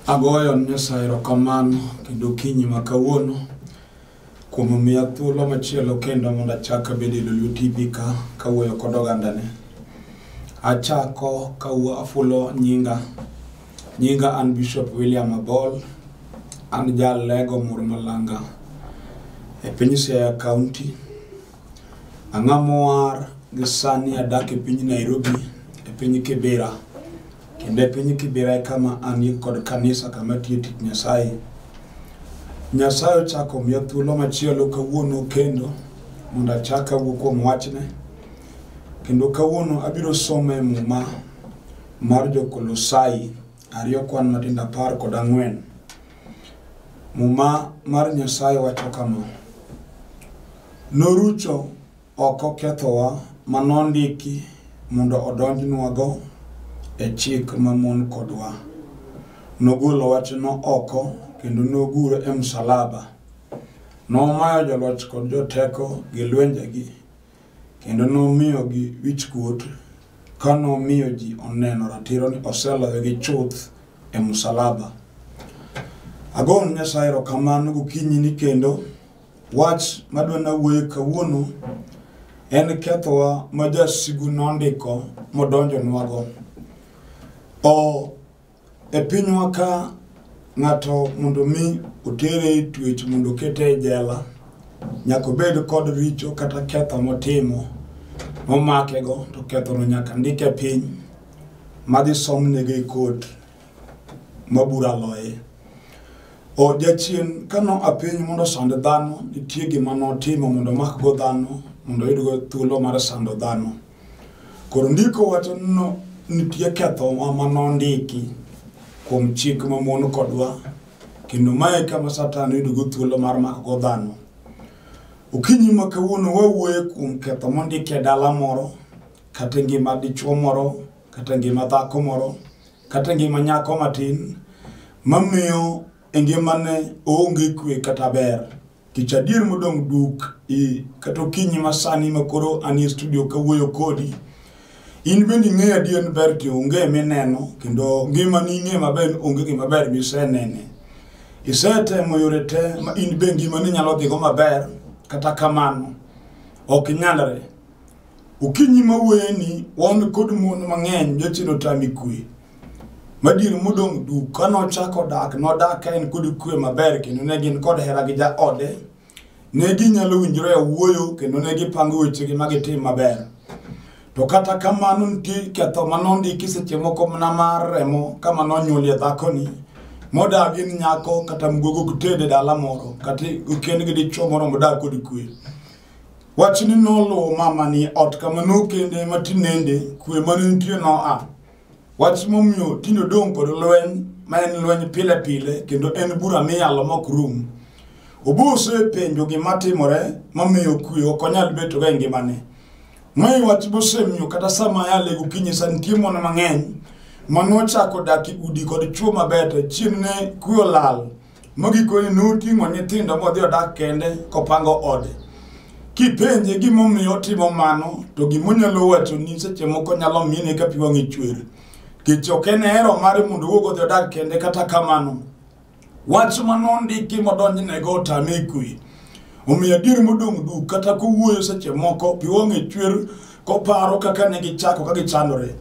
Agoyo ne Nyasaye erokamano kendo okinyi ma kawuono kuom omiya thuolo machielo kendo mondo achak abed e Lolwe TV ka kawuoyo kod ogandane. Achako ka afulo nyinga Nyinga an Bishop William Abol, an jal lego mur malanga e piny Siaya County. Ang'a mowar gi sani adak e piny Nairobi e piny Kibera. Kendo e piny Kibera e kama anie kod kanisa kama atiye tich Nyasaye. Nyasaye ochako miya thuolo machielo kawuono kendo mondo achak awuo kuom wachne. Kendo kawuono abiro some muma Mar Jo-Kolosai ariyo kwan matindo apar kod ang'wen. Muma mar Nyasaye wacho kama, Norucho oko kethowa ma nondiki mondo odonjnwago e chik mamon kodwa. Nogolo wachno oko kendo nogure e msalaba. Nomayo joloch kod joteko gi lwenjegi Kendo nomiyogi wichkuot ka nomiyo ji oneno ratiro ni oseloyogi chuth e musalaba. Agone Nyasaye erokamano gokinyini kendo wach madwa nawuoye kawuono en kethowa ma jasigu nondiko modonjonwago. O E pinywa ka ng'ato mondo mi otere e twech mondo okete e jela, nyaka obed kod richo kata ketho motimo momakego to kethono nyaka ndike piny madhi somnege e kot ma bura loye. O jachien ka no a piny mondo osand dhano, nitie gima notimo mondo omakgo dhano mondo oyudgo thuolo mar sando dhano. Koro ndiko wacho no nitie kethowa ma nondiki kuom chik ma mon kodwa kendo mae kama satan yudogo thuolo mar makogo dhano okinyi ma kawuono wawuoye kuom ketho mondiki e dala moro kata ngima dichuo moro kata ngima dhako moro kata ngima nyako matin mamiyo e ngimane oonge kwe kata ber Kech adier modong' duk i kata okinyi masani ma koro anie studio kawuoyo kodi. In bende ing'eyo adier ni ber ti onge mineno kendo ngimani ing'e maber onge gima ber misenene. Isetemo yore te ma in be ngimani nyalo dhigo maber kata kamano ok nyalre. Okinyi ma wuoyeni, wan kod mon mang'eny nyocha notami kwe. Madier modong' duk, ka nochako dak, nodak ka en kod kwe maber kendo ne gin kod hera gi jaode. Ne ginyalo winjore e wuoyo kendo ne gipango wechegi ma gitim maber. To kata kamano nitie ketho ma nondiki seche moko mana mar remo kama nonyuolie dhakoni modagi ni nyako kata mgogo gitede dala moro kata okend gi dichwo moro modag kod kwe. Wachni noluwo mama ni ot kama nokende ma tinende kwe ma ne nitie noa. Wach momiyo tinde odong' kod lweny ma en lweny pile pile kendo en bura miyalo mok rum. Obuso e penjo gima timore mamiyo kwe ok onyal beto ga e ngimane. Mae wach bosemiyo kata sama yale gokinyi sa nitie mon mang'eny ma nochako dak e udi kod chwo mabeto chieng' ne kwe olal Mogikone noting'o nyithindo modhi odak kende kopango ode. Kipenje gimomiyo otimo mano, to gimonyalo wacho ni seche moko nyalo mine ka pi wang'e chwer. Kech ok en hero mare mondo owuog odhi odak kende kata kamano. Wach ma nondiki modonjnego otame kwe. Omiyo adier modong' duk kata kowuoyo seche moko pi wang'e chwer koparo kaka ne gichako ka gichandore.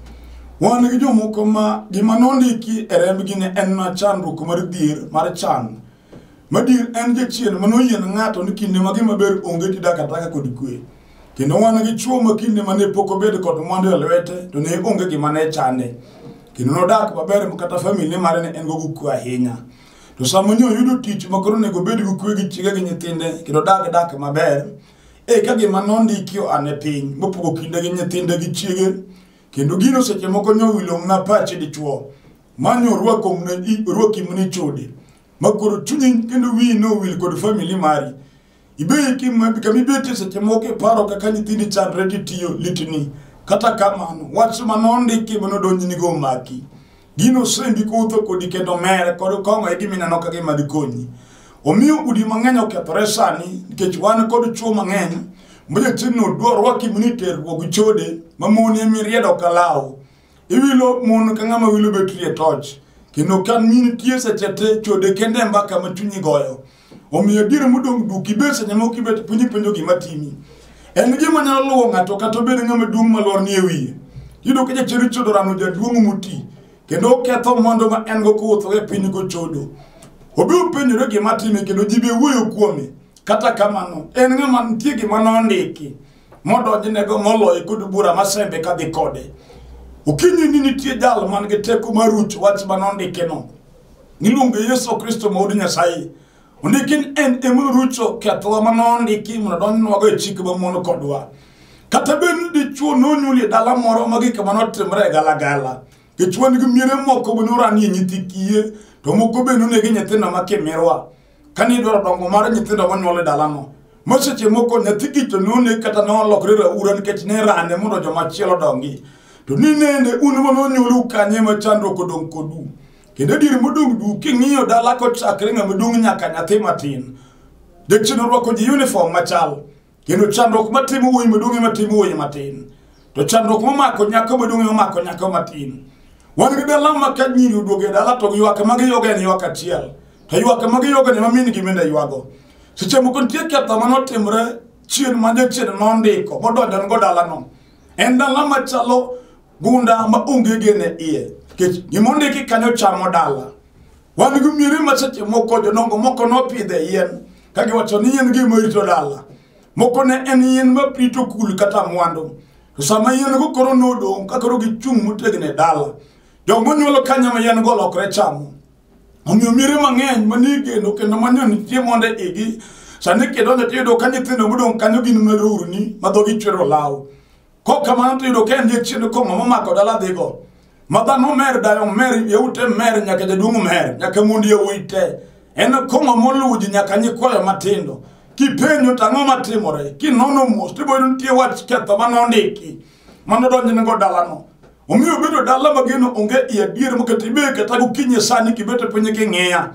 Wan gi jomoko ma gima nondiki e rembgi ne en na chandruok mar dhier mar chan. Madier en jachien ma noyie ne ng'ato ni kinde ma gima ber onge tidak ataka kod kwe. Kendo wan gi chwo ma kinde ma ne pok obed kod mwandu e lwete to ne onge gima ne chande. Kendo nodak maber ma kata famili mare ne en go gukwe ahinya. To sama nyo yudo tich ma koro onego obed gi kuwe gi chiege gi nyithinde kendo odag dak maber, e ka gima nondiki oa ne piny mopogo kinde gi nyithinde gi chiege kendo gino seche moko nyo wilong'na pache dichwo ma nyo orwakimni chode ma koro chunyi kendo wiyi nowil kod famili mari Ibeki kama ibete seche moko iparo kaka nyithindi chandre titiyo litni. Kata kamano, wach ma nondiki ma nodonjnigo omaki. Gino osendi kutho kodi kendo mere kod kong'o e gimineno ka gima dikonyi. Omiyo udi mang'eny okethore sani nikech wan kod chwo mang'eny ma jachini odwa rwaki mini terruok gi chode ma moni emi riedo ka law. iwilo mon ka ng'ama wilo betri e toch kendo ka min tie seche te chode kende e mbaka ma chunyi goyo omiyo adier modong' duk ibet seche moko ibet piny ipenjo gima timi en gima nyalo luwo ng'ato kata obed ng'ama duong' malwar ni e wiye yudo ka jachiri chodo rano jaduong' moti kendo oketho mondo ma en go kowuotho e piny gochodo obi openjore gima time kendo ji be wuoyo kuome kata kamano en ng'ama nitie gima nondiki modonjnego moloye kod bura masembe kadhi kode okinyi ni nitie jal man gi teko mar ruch wach ma nondikeno niluongo yesu kristo ma od nyasaye ondiki ni en ema rucho kethowa ma nondiki mondo donjnwago e chik mamono kodwa kata bed ni dichwo nonyuoli e dala moro ma gik ma notimre e galagala dichwo nigi miere moko be noranie nyithi kiye to moko be nonegi nyithindo ma kimirwa kane idwaro dongo mar nyithindo monyuol e dalano ma seche moko nyathi gicho none kata nolokre raura nikech ne rane mondo jomachielo dongi to ni nende un manonyuolu kanye ma chandruok odong' kodu kendo adier modong' du king'iyo dala kochakre ng'ama dong' nyaka nyathi matin jachien orwako ji uniform machal kendo chandruok matimo wuoyi maduong' ema timo wuoyi matin to chandruok momako nyako maduong' ema mako nyako matin wan gi dala ma ka nyiri oduogo e dala to ywak ma giyoga en ywak achiel to ywak ma giyoga ne ma min gi mende ywago seche moko nitie ketho ma notimre chien ma jachien nondiko modonjon go dalano en dala machalo gunda ma onge gene iye nikech gimondiki kanyo chamo dala Wan gi miere ma seche moko jodongo moko nopidhe yien ka giwacho ni yien gima rito dala. Moko ne en yien ma rito kul kata mwandu. To sama yien go koro nodong' ka koro gichung' motegno e dala. Jogo nyuolo kanya ma yien go lokre chamo. Omiyo miere mang'eny manie geno kendo manie nitie mondo igi sani kidonjo tiyudo ka nyithindo modong' kanyo gin marurni ma dhogi chwero law. kok kamano tiyudo ka en jachiend kong'o momako dala dhigo ma dhano mer dayo mer yeute mer nyaka jaduong' mer nyaka mond yawuoyi te en kong'o moluwo ji nyaka nyikwayo matindo kipenjo to ang'o matimore kinono mos tiboyudo nitie wach ketho ma nondiki ma nodonjnego dalano omiyo bedo dala mageno onge i adier moketi be kata gokinyi sani kibete piny king'iya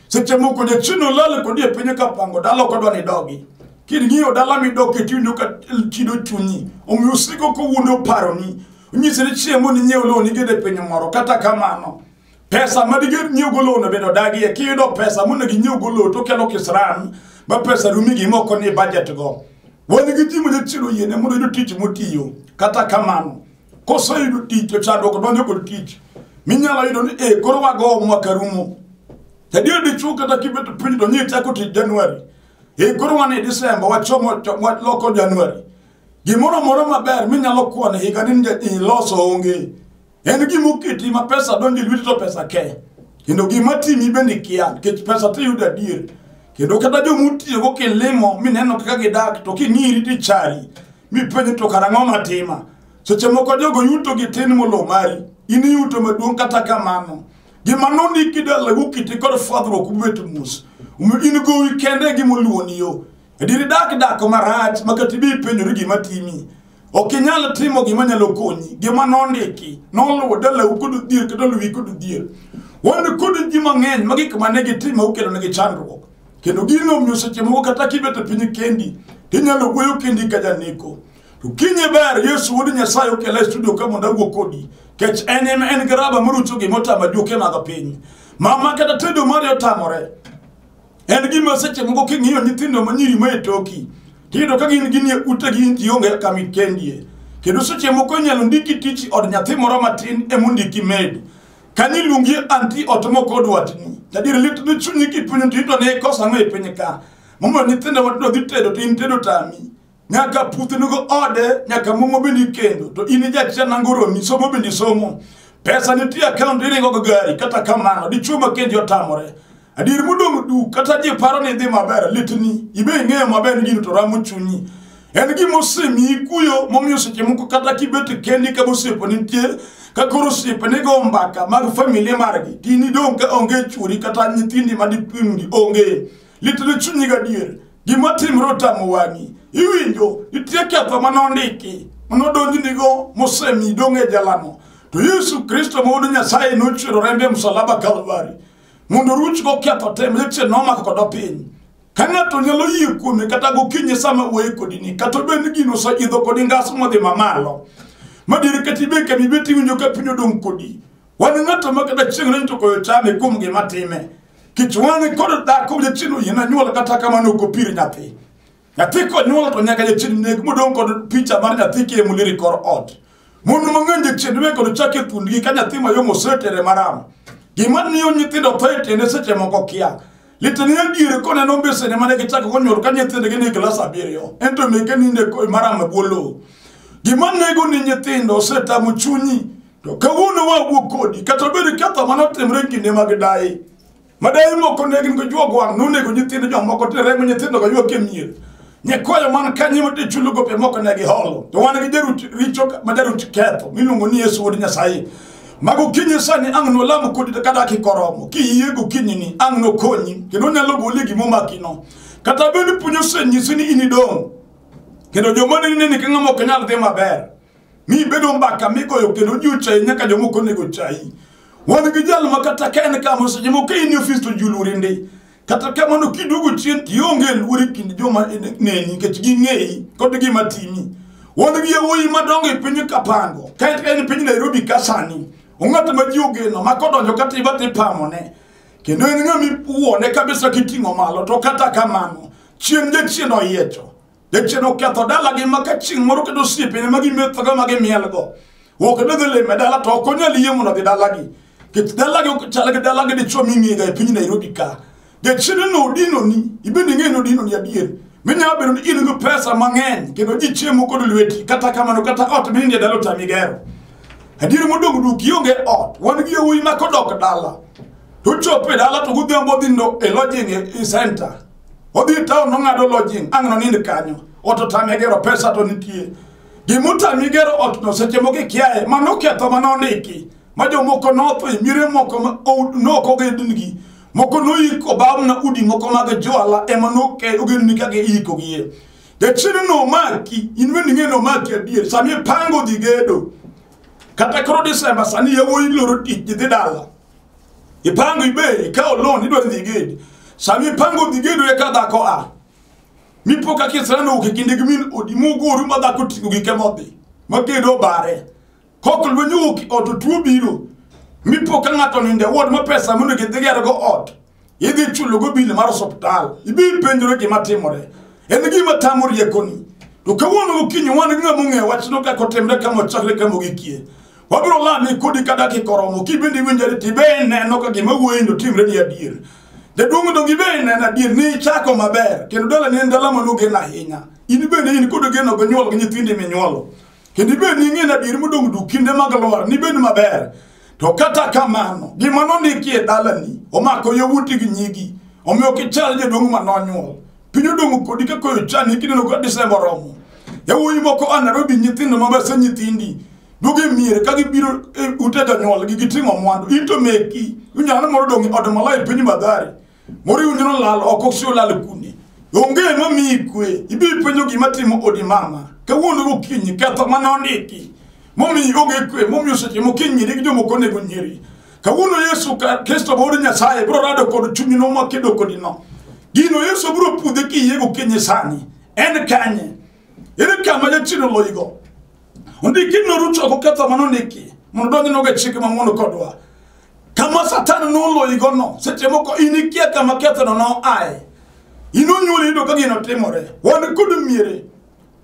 seche moko jachien olal kodi e piny kapango dala ok odwa ni idogi king'iyo dala midok e tiwinjo ka chido chunyi omiyo osiko kowuondo oparoni onyisi ni chiemo ni nyiew lowo nigede e piny moro kata kamano pesa ma diged nyiewogo lowono bende odagie kiyudo pesa monego inyiewogo lowo to okelo kisran ma pesa rumi gimoko ni budget go wan gi ji ma jachien oyiene mondo oyud tich motiyo kata kamano koseyudo tich to chandruok donjo kod tich minyalo yudo ni e koro wago mwaka rumo adier dichwo kata kibeto piny to nyie chako tich januari e koro wan e disemba wachomo waloko januari gimoro moro maber minyalo kwane higa ni iloso onge en gima oketi ma pesa donjo e lweti to pesa ke kendo gima timi bende kia nikech pesa tiyudo adier kendo kata jomutiyogo kilimo mineno kaka gidak to king'iri tichari mipenjo to kara ang'o matima seche moko jogo yuto gi tin molo mari in iyuto maduong' kata kamano gima nondiki dalagu kiti kod fwadhruok ubet mos Omiyo in gowi kende gima oluwoni yo adieri dak dak marach ma kata ibi ipenjori gima timi ok inyal timo gima nyalo konyi gima nondiki noluwo dalau kod odhier kata luwi kod odhier wan kod ji mang'eny ma gik mane gitimo okelonegi chandruok kendo gino omiyo seche moko kata kibet e piny kendi tinyalo wuoyo kendi ka janeko to kinye ber yesu wuod nyasaye okela e studio ka mondo awuo kodi kech en ema en garaba morucho gima otama duoke madho piny mama kata tedo mari otamore en gima seche moko king'iyo nyithindo manyiri ma e toki tiyudo ka gin ginie utegi gionge kama ikendie kendo seche moko inyalo ndiki tich od nyathi moro matin emondiki med Ka ni lungi anti ot moko dwatni. Tadier lit ni chunyi kipunyo to ito ne kosa ng'e piny ka. Momo nyithindo matindo dhi tedo to in tedo tami. Nyaka puthi nugo ode, nyaka momo bende kendo. To in jachia nangoro mi somo bende somo. Pesa nitie account iringo go gari kata kamano dichuo ma kendi otamore. Adier modong' du kata ji paro ni idhi maber litni ibe ing'eyo maber ni gino to ramo chunyi en gima osemiyi kuyo momiyo seche moko kata kibet kendi ka bosiepo nitie ka koro osiepe nigo mbaka mag familia margi tin idong' ka onge chwori kata nyithindi madipimgi onge litni chunyi gadier gima timre otamo wang'i iwinjo nitie ketho mane ondiki mane odonjnigo mosemi idong' e jalamo to yesu kristo ma wuod nyasaye nochwero rembe e msalaba kalvari mondo ruch goketho te ma jachien nomako kodo piny ka ng'ato nyalo yie kuome kata gokinye sama wuoye kodini kata obed ni gino oseidho kodi ngas modhi mamalo madiri kata ibe kama ibet iwinjo ka piny odong' kodi wan ng'ato ma kata chieng' reny to koyo chame kuom gima time kech wan kod dhako jachien oyena nyuol kata kamano ok opir nyathi Nyathi konyuol to nyaka jachien neg modong' kod picha mar nyathi kiemo lir e kor ot. Mon mang'eny jachien weg kod chak e thundgi ka nyathi mayom osetere maram. Gima miyo nyithindo tho e tiende seche moko kia. Litani e diere koneno mbesene mane gichako konyuol ka nyithindgi ni e klas abiriyo. Ento meke ninde e maram e bwo lowo. Gima nego ni nyithindo osetamo chunyi. To kawuono wawuo kodi kata obedo ketho mane otimre e kinde mag daye. Madai moko ne gin gojuo gwang' nonego nyithindo jomoko to remo nyithindo go yuok e mier. Nyekwayo man kanyo mati chulo gope moko ne giholo. To wan gi jarut richo ma jarut ketho miluongo ni Yesu wuod Nyasaye. Mago kinyi sani ang' nolamu kodi kata kikoromo. Kiyie go kinyi ni ang' nokonyi kendo nyalo goli gimo makino. Kata bende puonyo senyisi ni inidong'. Kendo joma ne nini king'amo ok nyal dhi maber. ni bedo mbaka migoyo kendo ji ochayi nyaka jomoko onego chayi wan gi jal ma kata ka en kama seche moko in e ofis to ji oluori ndi kata kamano kiduogo chien to ionge luor e kind joma neni nikech ging'eyi kod gima timi wan gi yawuoyi madongo e piny kapango ka en piny nairobi ka sani ong'at ma ji ogeno ma kodonjo kata iba to ipamone kendo en ng'ama iwuone kabisa kiting'o malo to kata kamano chien jachien oyiecho Jachien oketho dalagi ma ka chieng' moro kendo osiepene ma gimethogo ma gimielgo ok dodhi lime dala to ok onyal yie mondo dhi dalagi kech dalagi ok chal gi dalagi dichwo ming'ega e piny nairobi ka jachiene no odinoni ibende ing'eyo ni odinoni adier minyalo bedo ni in gi pesa mang'eny kendo ji chiemo kod lweti kata kamano kata ot mininde dala otami gero adier modong' duk ionge ot wan gi yawuoyi ma kodok dala to chopo e dala to godhiambo odhi ndo e lodging e center odhi e taon nong'ado lodging ang' nonind kanyo ot otame gero pesa to nitie gimotami gero otno seche moko ikiaye ma noketho ma nondiki ma jomoko notho e miere moko ma o- nok ogendnigi moko noiko bamna udi moko mag jwala ema noke ogendni ka giikogie jachieno nomaki in bende ing'e nomaki adier sami ipango dhi gedo kata koro disemba sani yawuoyi loro tich gidhi dala ipango ibe ikawo loan idwa dhi gedo sama ipango dhi gedo eka dhako a mipo ka kisrano wuok e kinde gi min odi mugoru ma dhako ting'o gike modhi ma gedo obare kok lweny owuok e ot otuo biro mipo ka ng'ato ninde wod ma pesa monego idhi gergo ot idhi chulogo bil mar osuptal ibi penjore gima timore en gima tamo riekoni to kawuono gokinyi wan gi ng'ama ong'eyo wachno kaka otimre kama ochakre kama ogikie wabiro lami kodi ka dakika oromo kibende iwinjore tibe ineno ka gima wuoyini otimre ni adier jaduong' odong ibe ineno adier ni ichako maber kendo dalani en dala manogen ahinya in bende in kod geno gonyuol gi nyithindi minyuolo kendo ibed ni ing'eyo adier modong' duk kinde mag lwar nibed maber To kata kamano, gima nondiki e dalani omako yawuoti gi nyigi, omiyo kichal jaduong' ma nonyuol. Piny odong' kodi ka koyo chani kineno ka Desemba oromo. Yawuoyi moko a Nairobi nyithindo ma bese nyithindi duogo e mier ka gibiro e ute jonyuolgi giting'o mwandu. In to meki, inyalo moro dong' e od malaya e piny Mathare. moriwo nyiro lal oko si olal kune onge ma miyi kwe ibi penjo gima timo odi mama kawuono gokinyi ketho mane ondiki momiyi onge kwe momiyo seche mokinyi nyiri gi jomoko onego nyiri kawuono yesu kristo ma wuod nyasaye biro rado kod chunyino ma kedo kodino gino yesu biro pudhe kiyie gokinyi sani en kanye ere kama jachien oloyigo ondiki noruchoko ketho mane ondiki mondo donj nogo e chike mamono kodwa kama satan noloyigono seche moko in ikia kama kethono noae in onyuoli iyudo ka gino timore wan kod miere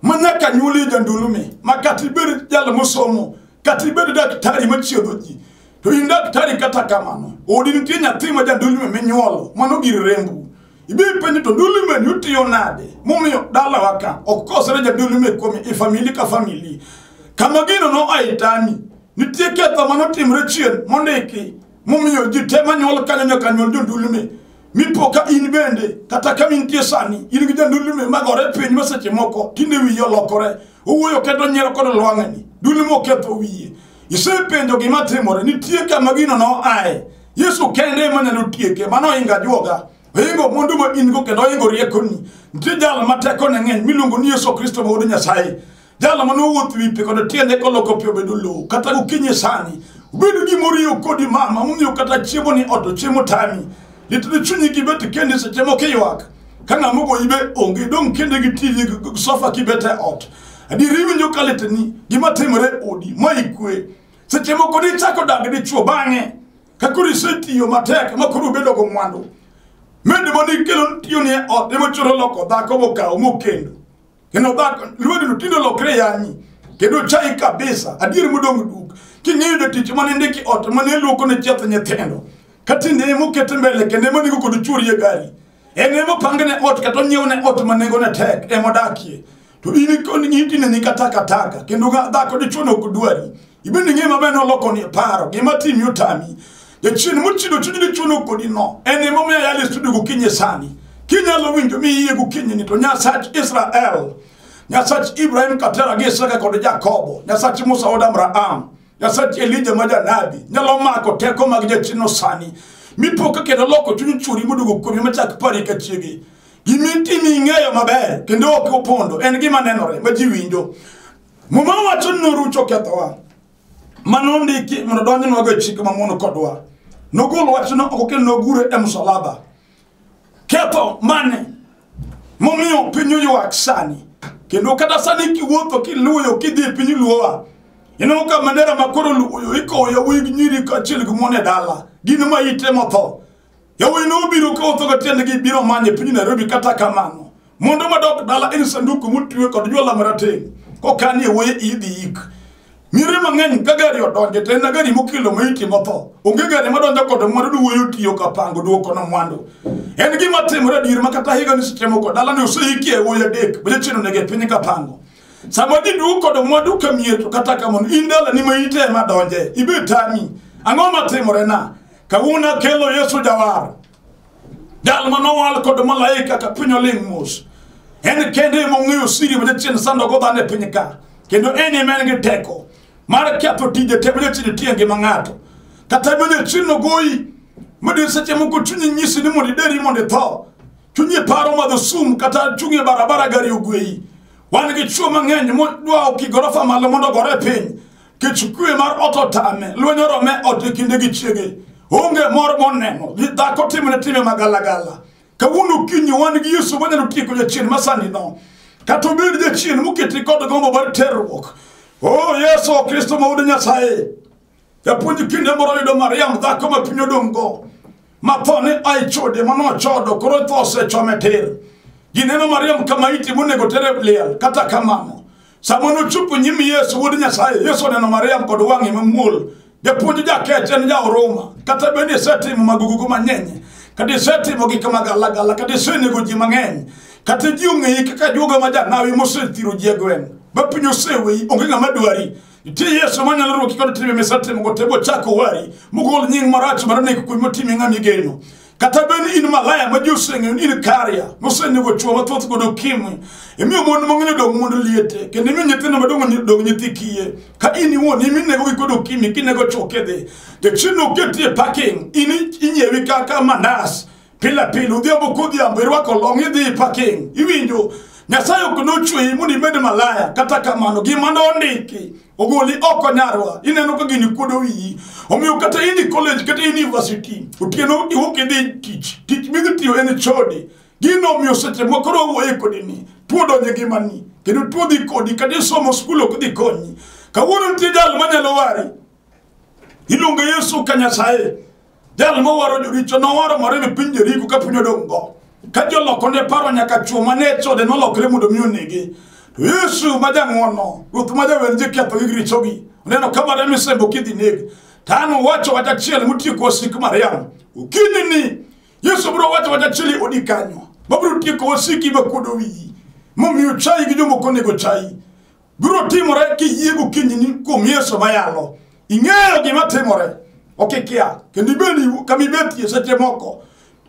ma nyaka nyuoli jandulumi ma kata ibed jal mosomo kata ibed daktari machiedho ji to in daktari kata kamano odi nitie nyathi ma jandulumi minyuolo mano gir rembu Ibi penjo to dulime ni utiyo nade? Mumiyo dala waka okosre ja dulime kuom i famili ka famili. Kama gino no aitani. Nitie ketho mano timre chien mondiki. Mumiyo ji te manyuol kanyo nyaka nyuol jo dulime. Mipo ka in bende kata ka mintie sani in gi ja dulime magore piny maseche moko tinde wiye olokore. Owuoyo keto nyiero kod lwang'ani. Dulime oketho wiye. Isepenjo gima timore, nitie kama gino noaye. Yesu kende ema nyalo tieke, mano ohinga juoga. Ohingo mwandu ma in go kendo ohingo riekoni. Nitie jal ma tekone ng'eny miluongo ni Yesu Kristo ma wuod Nyasaye. Jal ma nowuoth wi pi kod tiende koloko pi obedo lowo, kata gokinyi sani. Obedo gima oriyo kodi mama, momiyo kata chiemo ni ot to chiemo tami. Litni chunyi gibet kendi seche moko iywak. Ka ng'ama ogoyi be onge, dong' kende gi TV gi sofa kibet e ot. adier iwinjo ka litni gima timore e odi ma ikwe seche moko nichako dag dichuo bang'e ka koro isetiyo matek ma koro ubedo go mwandu mende ma nikelo tiyo ni e ot ema choro loko dhako mokawo mokendo kendo dhako lwedo no tinde olokre yanyi kendo chai kabisa adier modong' duk king'eyo jotich mane ndiki ot mane luoko ne chieth nyithindo ka tinde ema okete mbele kendo ema nigo kod chuorie gari en ema opangone ot kata onyiewne ot ma nengone tek ema odakie to in ikoni nyitine ni kata kataka kendo ga dhako dichuo nok dwari ibende ng'e maber ni oloko ni paro gima timi otami jachien mochido chuny dichuo nok kodi no en ema omiyo ayal e studio gokinye sani kinyalo winjo mi iye gokinye ni to nyasach israel nyasach ibrahim katera gi isaka kod jakobo nyasach musa od abraham nyasach elija ma janabi nyalo mako teko mag jachienno sani mipoka kendo loko chuny churi moduogo kuomi machak pari ka chiegi Gima itimo ing'eyo maber kendo ok opondo en gima nenore ma ji winjo. Muma wacho ni norucho kethowa. Mano ndiki mondo donjnwago e chik mamono kodwa. Nogol wachno oko kendo nogure e msalaba. Ketho mane momiyo piny oywak sani kendo kata sani kiwuotho kiluyo kidhi e piny luowa ineno ka mandera makoro luoyo ikowo yawuoyi gi nyiri kaachiel gi mon e dala gin ma ite motho Yawuoyi nobiro ka otho ka tiendgi biro manye piny Nairobi kata kamano. Mondo madok dala en sanduku motwe kod jwala marateng' kokanie wuoye idhi yik. Nyiri mang'eny ka gari odonje to en na gari mokelo maiti motho. Onge gari madonjo kod mwandu ni wuoyi otiyo ka pango duoko na mwandu. En gima timore adier ma kata higa ni seche moko dala ni oseikie wuoyi adek bende chino nege piny ka pango. Sama ji duok kod mwandu ka mier to kata kamano in dala ni maiti ema donje. Ibe tami. Ang'o matimore na? Kawuono akelo Yesu Jawar, jal ma nowal kod malaika ka piny oling' mos. En kende ema ong'eyo siri ma jachien sandogo dhano e piny ka, kendo en ema en gi teko mar ketho tije te ma jachien tiyo e ngima ng'ato. Kata bende jachien ogoyi, madi seche moko chunyi nyisi ni mondo ideri mondo itho. Chunyi paro madho sum kata chung' e barabara gari ogweyi. Wan gi chuo mang'eny modwa oki gorofa malo mondo ogore piny. kech kwe mar ot otame lweny orome ot e kinde gi chiege onge mor moneno gi dhako timne time magalagala kawuono kinyi wan gi yesu wanyalo tieko jachien masanino kata obed jachien moketi kod gombo mar terruok o yesu kristo ma wuod nyasaye japuonj kinde moro yudo mariam dhako ma piny odong'go ma tho ne a e chode ma nochodo koro tho osechome tir gineno mariam kama iti monego tere liel kata kamano sama nochopo nyim yesu wuod nyasaye yesu oneno mariam kod wang'e mamuol japuonj jakech en jaoruma kata bende isetimo magugugu mang'eny kata isetimo gik magalagala kata isenego ji mang'eny kata ji ong'eyi kaka juoga ma janawi mosethiro ji e gweng' ma piny oseweyi onge ng'ama dwari Nitie Yesu ma nyalo ruoki kod timbe misetimo go tego chako wari mogol nying marach mar nek kuwi motimi ng'a migeno. Kata bed in malaya ma ji oseng'eyo ni in karia mosenego chwo mathoth kod okimwi. Imiyo mon mang'eny odong' mond liete kendo imiyo nyithindo madongo nyi- dong' nyithi kiye. Ka in iwuon imi negogi kod okimi kinego chwo kidhi. Jachien oketi e parking in inyiewi kaka manas pile pile odhiambo kodhiambo irwako long idhi ipaking iwinjo nyasaye ok nochweyi mondo ibed malaya kata kamano gima nondiki ogoli oko nyarwa ineno ka gini kuodo wiyi omiyo kata in e college kata in e university otieno iwuok idhi tich tich midhi tiyo en chode gino omiyo seche moko koro owuoye kodini tuo donjo e ngimani kendo tuo dhi kodi kata isomo skul ok dhi konyi kawuono nitie jal manyalo wari iluongo yesu ka nyasaye Jal mowaro joricho nowaro mare mi piny Jeriko ka piny odong'go. Ka joloko ne paro nyaka chwo ma ne chode nolokre mondo mi onege. To Yesu ma jang'wono, Ruoth ma jawer ji ketho gi richogi, oneno ka Maria misembo kidhi neg. To an uwacho wach achiel mutieko wasik Mariam. Okinyi ni Yesu biro wacho wach achiel odi kanyo. Mabiro tieko wasiki ma kuodo wiyi. Momiyo chayi gi jomoko onego chayi. biro timore kiyie gokinyi ni kuom yesu mayalo ing'eyo gima timore ok ikia kendo ibedi kama ibetie seche moko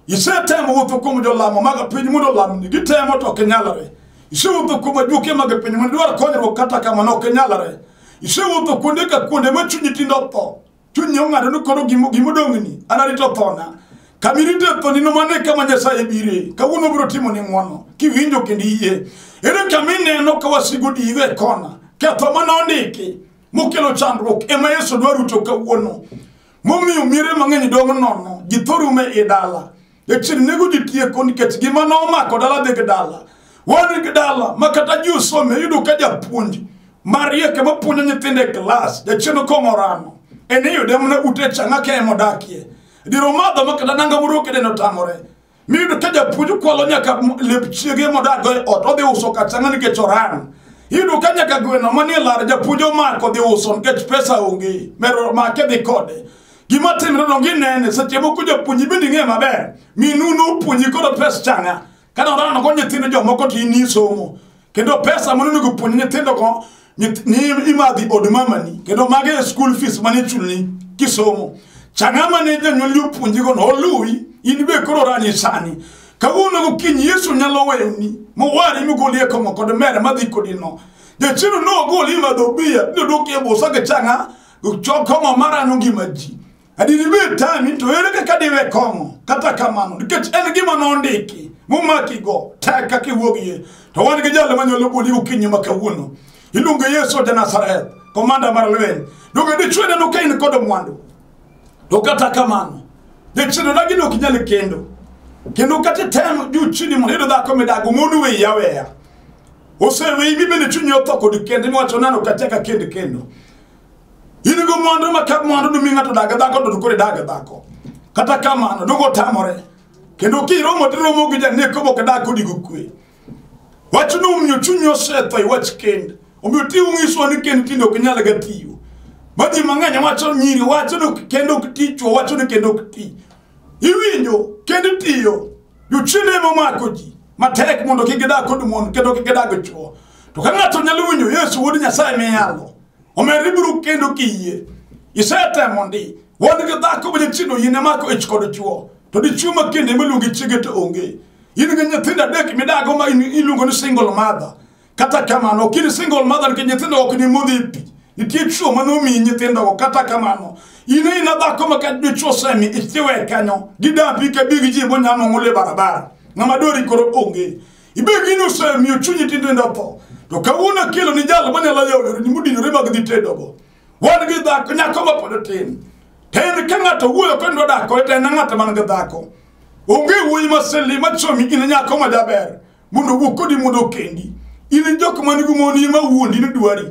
isetemo wuotho kuom jolamo mag piny mondo olamni gitemo to ok inyalore isewuotho kuom ajuoke mag piny mondo idwar konyruok kata kamano ok inyalore isewuotho kuonde ka kuonde ma chunyi tindo tho Chunye ong'ado ni koro gimo- gimodong'ni anarito thona. Kama irite thoni no mane kama Nyasaye bire. Kawuono biro timo ni ng'wono. Kiwinjo kendo iyie. Ere kama ineno ka wasigu digo e kona. Ketho ma nondiki mokelo chandruok ema Yesu dwa ruto kawuono. Momiyo miere mang'eny dong' nono. Ji thoro ume i dala. Jachien nego ji tieko nikech gima nomako dala dhi gi dala. Wan gi dala ma kata ji osome yudo ka japuonj marieke mapuonjo nyithindo e klas jachien okong'o rano en iyude mana ute changa ka ema odakie diro madho ma kata nanga moro kedeno tamore miyudo ka japuonj kwalo nyaka lep chiege modago e ot odhi uso ka changa nikech oran iyudo ka nyaka gweno manie lar japuonj omako dhi uso nikech pesa onge mero make dhi kode Gima timre no ginene seche moko japuonji bende ing'e maber. Minu nopuonji koro pes changa. Kata orano go nyithindo jomoko to in isomo. Kendo pesa mane onego puonj nyithindo go nyith- ni imadhi od mamani kendo mage e school fees mane chulni kisomo. Changa mane janyuoli opuonji go no oluwi in be koro orani sani. Kawuono gokinyi Yesu nyalo weyoni mowari migoli e kong'o kod mere madhi kodi no. Jachieno nogoli madho biya nodok e busa gi changa Chok kong'o marano ngima ji. Adini be tami to ere kaka diwe kong'o. Kata kamano, nikech en gima nondiki, momaki go, tek kaka iwuogie. To wan gi jalo manyalo boli ukinyi ma kawuono. Iluongo Yesu ja Nazareth, komanda mar lweny. Donge dichwe neno ka in kod mwandu. To kata kamano, dichwe na gino ok nyal kendo. Kendo kata tem juu chini mondo iyud dhako midago mondo we yaweya. Oseweyi mi bende chunyi otho kod kende miwacho nano kata ka kend kendo. in go mwandu ma ka mwandu dumi ng'ato daga dhako to kore daga dhako kata kamano dogo tamore kendo kiromo tiromo gi janeko mok dak kodi go kwe wach no omiyo chuny osetho e wach kend omiyo ti ung'iswa ni kend tinde ok nyal ga tiyo ma ji mang'eny wacho nyiri wacho ni kendo ok ti chwo wacho ni kendo ok ti iwinjo kendo tiyo Jochiende ema omako ji matek mondo kik gidag kod mon kendo kik gidag chwo. To ka ng'ato nyalo winjo Yesu wuod Nyasaye miyalo, omer ibiro kendo kiyie. Isetemo ndi, wan gi dhako ma nyithindo yine mako ich kod chwo, to dichwo ma kende miluongo chiege to onge. In gi nyithindo adek midago ma in- iluongo ni single mother. kata kamano ok in single mother nikech nyithindo ok ni modhipi nitie chuo mane omiyi nyithindogo kata kamano in ina dhako ma ka dichuo semi ichiwe kanyo gidapi ka big ji bonyamo ng'ule barabara ng'ama dori koro onge ibed in osemiyo chunyi tindindo tho to kawuono akelo ni jal manyalo yawore ni mudinore mag dhi tedogo wan gi dhako nyako ma pod tin to en ka ng'ato wuoyo kendo dako to en ng'at man gi dhako onge wuoyi ma seli ma chomi in nyako ma jaber mondo owuo kodi mondo okendi in jok man gi mon ma wuondi ni dwari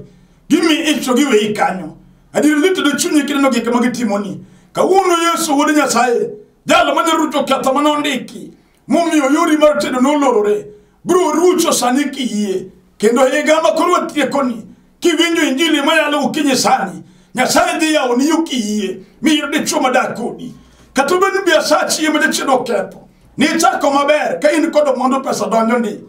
gimi ich to giwe ikanyo adier litedo chunyi kineno gik ma gitimoni kawuono yesu wuod nyasaye jalo manyalo rucho ketho mane ondiki momiyo yori mar tedo nolorore biro rucho sani kiyie kendo higa ma koro watiekoni kiwinjo injili mayalo gokinyi sani nyasaye dhi yawoni yo kiyie miyud dichwo madak kodi kata obed ni biasachi ema jachien oketho nichako maber ka in kod mwandu pesa donjo ni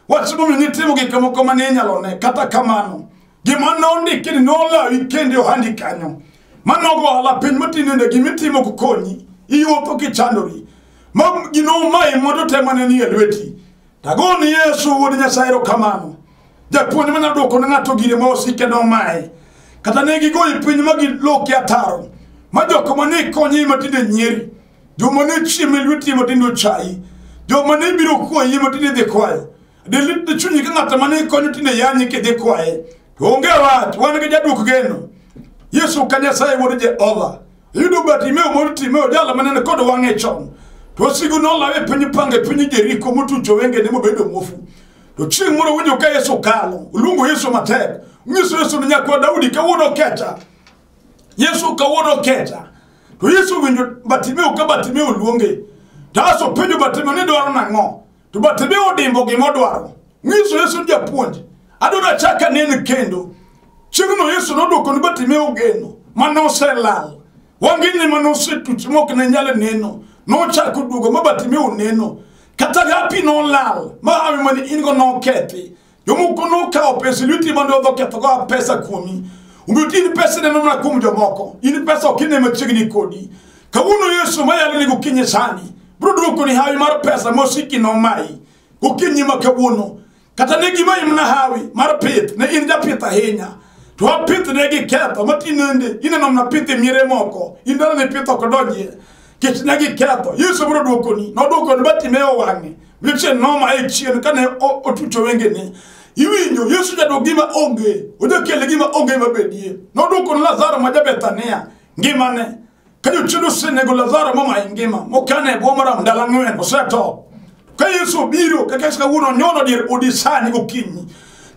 wach momiyo nitimo gik moko ma ninyalo ne kata kamano gima nondiki ni nolawi kende ohandi kanyo manogo ohala piny matinende gimitimo kukonyi iwuotho kichandori ma gino omayi mondo temane ni e lweti Tago ni Yesu wuod Nyasaye erokamano. Japuonj manyalo dwoko ne ng'ato gire ma osike nomaye. Kata ne gigoyi piny ma giloki ataro. Ma joko ma ne konyi ma tinde nyieri. Joma ne chieme lweti ma tinde ochayi. Joma ne biro kwayi ma tinde dhi kwayo. Dilit ni chunyi ka ng'ato ma ne konyo tinde yanyi kidhi kwaye. To onge wach, wan gi jadwok geno. Yesu ka Nyasaye wuod Jehova. Iyudo Bartimeo moro Timeo jala manene kod wang'e chon. To osigo nolawe e piny pange piny Jeriko motucho wengene mobedo muofu. To chieng' moro winjo ka Yesu kalo, oluongo Yesu matek. Nyiso Yesu ni nyakwa Daudi kawuono kecha. Yesu kawuono kecha. To Yesu winjo Bartimeo ka Bartimeo luonge. Taso penjo Bartimeo ni dwaro nang'o? to but be odimbo gima odwaro nyiso yesu japuonj adwaro achaka nene kendo chieng'no yesu nodwoko ni batime ogeno mane oselal wangene mane osetuch mok ne nyal neno nochako duogo ma batime oneno kata gapi nolal ma hawi mane in go nokethi Jomoko nokawo pesa lweti mondo odho kethogo pesa kuomi. Omiyo in pesa neno mana kuom jomoko. In pesa ok ine machiegni kodi. Kawuono Yesu mayalo ni gokinyi sani biro duoko ni hawi mar pesa mosiki nomayi gokinyi ma kawuono. Kata ne gima imna hawi mar pith ne in japith ahinya. To wapith ne gi ketho matinende ineno mana pith e miere moko. In dala ne pith ok odonjie. Kech ne gi ketho. Yesu biro duokoni. Noduokoni batime owang'e. Weche noma e chien kane o- otucho wengene. Iwinjo Yesu jadwoko gima onge, ojakele gima onge mabedie. Nodwoko ni Lazaro ma ja-Bethania ngimane. Ka jochiende osenego Lazaro ma mayi ngima, mokane e bwo maram ndalo ang'wen, osetho. Ka Yesu obiro, kaka Yesu kawuono onyono dier odi sani gokinyi.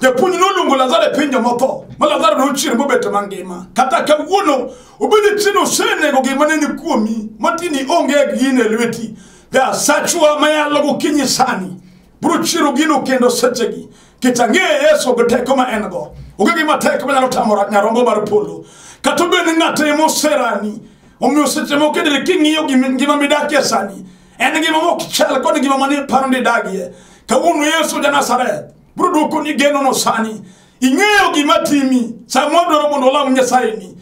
Japuonj noluongo Lazaro e piny jomotho, ma Lazaro nochier mobet mangima. Kata kawuono, obedo chieno osenego gima ne ni kuomi, matini onge gine lweti. Nyasachwa ma yalo gokinyi sani biro chiro gino kendo sechegi keta ng'eye Yesu gi teko ma en go onge gima tek manyalo tamo ra- nyarombo mar polo kata obed ni ng'ato ema oserani omiyo seche moko idire king'iyo gima ngima midakie sani en ngima ma ok chal kod ngima mane paro ni idagie kawuono Yesu ja Nazareth biro dwokoni genono sani ing'eyo gima timi sama wadwaro mondo olam Nyasayeni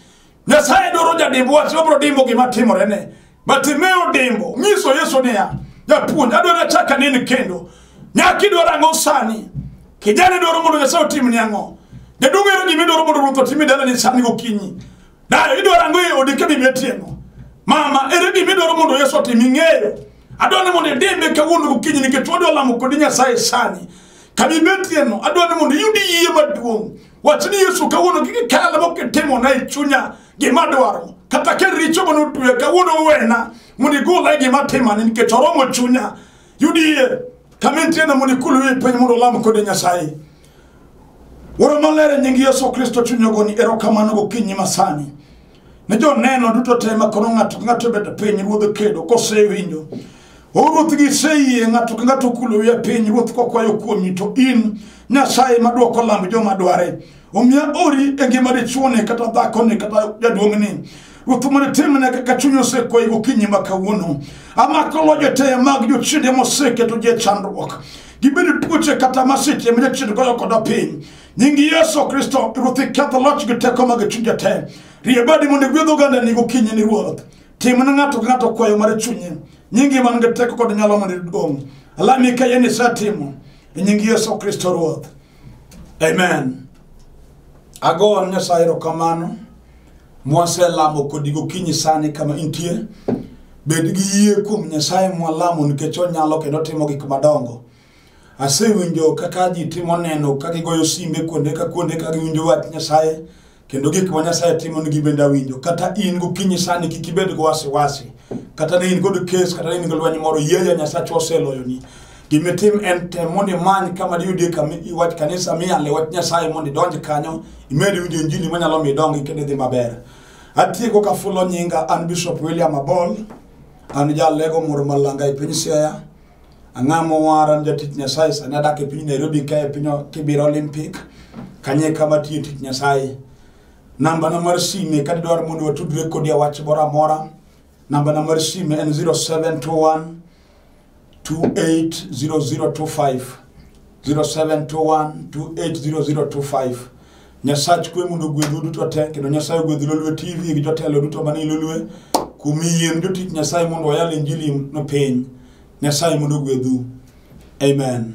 Nyasaye dwaro jadimb wach, obro dimbo gima timore ne. Bartimeo dimbo, nyiso Yesu niya, japuonj, adwaro achak anen kendo. Nyaka idwaro ang'o sani? Kijana dwaro mondo Nyasaye otim ni ang'o? Jaduong' ero gima idwaro mondo Ruoth otim e dalani sani gokinyi. Dayo idwaro ang'o e odi ka bibi otieno? Mama, ere gima idwaro mondo Yesu otim ing'eyo? Adwaro ni mondo idimbe kawuono gokinyi nikech wadwa lamo kodi Nyasaye sani. Ka bibi otieno, adwaro ni mondo iyud yie maduong'. Wach ni Yesu kawuono gige kala mok itimona e chunya gima dwaro kata ka richo mane otweya kawuono wena mondo igola e gima timani nikech oromo chunya yudi yie kama intiena mondo ikuluwe e piny mondo olam kode Nyasaye. Wuoro maler e nying Yesu Kristo chuny ogoni erokamano gokinyi masani. Ne joneno duto te ma koro ng'ato ka ng'ato obet e piny ruodh kedo kosewinjo O Ruoth giseyie ng'ato ka ng'ato kulo wiye piny Ruoth kokwayo kuomi to in Nyasaye madwoko lamb joma dware omiya ori e ngima dichuone kata dhakone kata jaduong'ni Ruoth mondo itimne kaka chuny osekwayi gokinyi ma kawuono amako loje te mag jochiende moseketo ji e chandruok gibedo tuoche kata masiche ma jachien goyo koda piny nying yesu kristo ruoth iketho loch gi teko mag chunya te rie badi mondo igwedh oganda ni gokinyi ni ruoth tim ne ng'ato ka ng'ato kwayo mar chunye nyingi man gi teko kod nyalo mondo iduong' alami ka yeni isetimo e nying yesu kristo ruoth amen ago ne nyasaye erokamano mwaselamo kodi gokinyi sani kama intie bed gi yie kuom nyasaye mwalamo nikech onyalo kendo otimo gik madongo Asewinjo kaka ji timo neno ka gigoyo simbe kuonde ka kuonde ka giwinjo wach Nyasaye kendo gik ma Nyasaye timo nigi bende awinjo. Kata in gokinyi sani kik ibed gi wasiwasi. Kata ne in kod kes kata ne in gi lweny moro yie ya Nyasaye oseloyoni. Gima itim en tem mondo imany kama diyudie kama i- wach kanisa miyale wach Nyasaye mondo idonj kanyo imed winjo injili manyalo miyo idongi kendo idhi maber. Atieko ka fulo nyinga an Bishop William Abol an jalego moro malanga e piny Siaya. Ang'a mowara ni jatich Nyasaye sani adak e piny Nairobi ka e piny Kibira Olympic kanye kama tiyo tich Nyasaye. Namba na mar sime ka didwar mondo watudre kodi a wach moro amora. Namba na mar sime en 0721 280025 0721 280025 Nyasach kwe mondo ogwedhu duto te kendo Nyasaye ogwedh Lolwe TV gi jotelo duto manie Lolwe kuom yien jotich Nyasaye mondo wayal injili no piny. Nyasaye mondo ogwedhu. Amen.